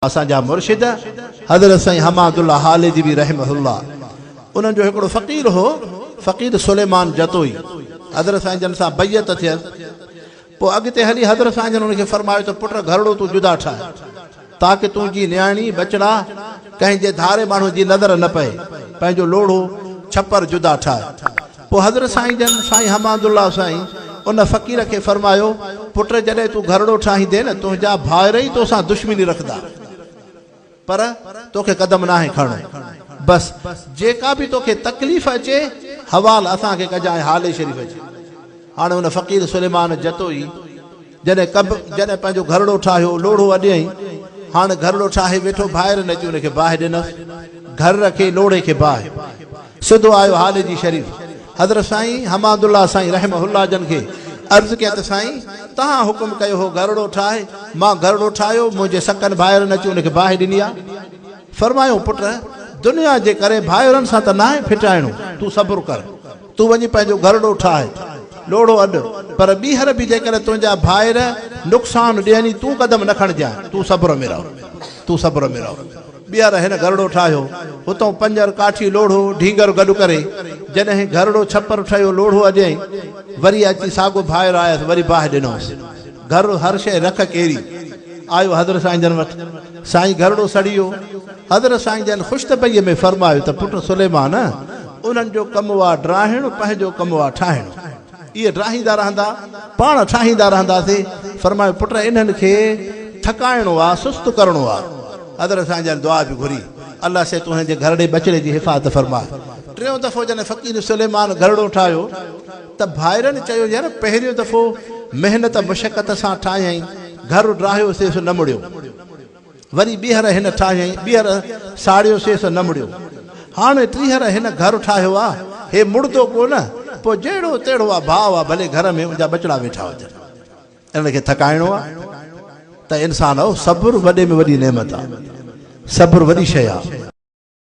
اسان جا مرشد حضرت سائين حماد الله هاليجوي رحمه الله انهن جو هڪڙو فقير هو فقير سليمان جتوئي حضرت سائين جن سان بيعت ٿيس پوء اڳتي هلي حضرت سائين جن ان کي فرمايو ته پٽ گهرڙو تون جدا ٺاهه تاڪه تنهنجي نياڻي ٻچڙا ڪنهن جي ڌاري ماڻهو جي نظر نه پئي پنهنجو لوڙهو ڇپر جدا ٺاهه پوء حضرت سائين جن، سائين حماد الله سائين، ان فقير کي فرمايو، پٽ جڏهن تون گهرڙو ٺاهيندين نه تنهنجا ڀائر ئي توسان دشمني رکندا. پر توکي قدم ناهي کڻڻو. بس جيڪا به توکي تڪليف اچي، حوال اسان کي ڪجانء هالي شريف اچي. هاڻي ان فقير سليمان جتوئي. جڏهن ڪنب جڏهن پنهنجو گهرڙو ٺاهيو، لوڙهو اڏيائين. هاڻ گهرڙو ٺاهي ويٺو، ڀائرن اچي ان کي باهه ڏنس. گهرڙ کي، لوڙهي کي باهه. سڌو آيو هاليجي شريف. حضرت سائين حماد الله سائين رحمه الله جن کي عرض ڪيائين ته سائين توهان حڪم ڪيو هو گهرڙو ٺاهه، مان گهرڙو ٺاهيو، منهنجي سڪن ڀائرن اچي ان کي باهه ڏني آ. فرمايائون پٽ! دنيا جي ڪري ڀائرن سان ته ناهي ڦٽائڻو، تون صبر ڪر. تون وڃي پنهنجو گهرڙو ٺاهه، لوڙهو اڏ، پر ٻيهر به جيڪڏهن تنهنجا ڀائر نقصان ڏين ئي تون قدم نه کڻجانء، تون صبر ۾ رهه، تون صبر ۾ رهه. ٻيهر هن گهرڙو ٺاهيو، اتئون پنجر، ڪاٺي، لوڙهو، ڍينگر گڏ ڪري، جڏهن گهرڙو ڇپر ٺهيو، لوڙهو اڏيائين، وري اچي ساڳو ڀائر آيس، وري باهه ڏنوس. گهر هر شيء رک ڪيري. آيو حضرت سائين جن وٽ. سائين گهرڙو سڙي ويو. حضرت سائين جن خوش طبعيء ۾ فرمايو ته پٽ سليمان! انهن جو ڪم هو ڊاهڻ، پنهنجو ڪم هو ٺاهڻ. اهي ڊاهيندا رهندا، پاڻ ٺاهيندا رهنداسي. فرمايو پٽ انهن کي ٿڪائڻو آ، سست ڪرڻو آ. حضرت سائين جن دعا به گهري. الله سي تون هن جي گهرڙي ٻچڙي جي حفاظت فرماء. ٽيون دفعو جڏهن فقير سليمان گهرڙو ٺاهيو. ته ڀائرن چيو يار پهريون دفعو محنت مشقت سان ٺاهيائين گهر ڊاهيو سي سو نه مڙيو وري ٻيهر هن ٺاهيائين ٻيهر ساڙيو سي سو نه مڙيو هاڻ ٽيهر هن گهر ٺاهيو آ هي مڙدو ڪو نه پو جهڙو تهڙو آ ڀاء آ ڀلي گهر ۾ انجا ٻچڙا ويٺا هجن انهن کي ٿڪائڻو آ ته انسان آ صبر وڏي ۾ وڏي نعمت آ صبر وڏي شئي آ.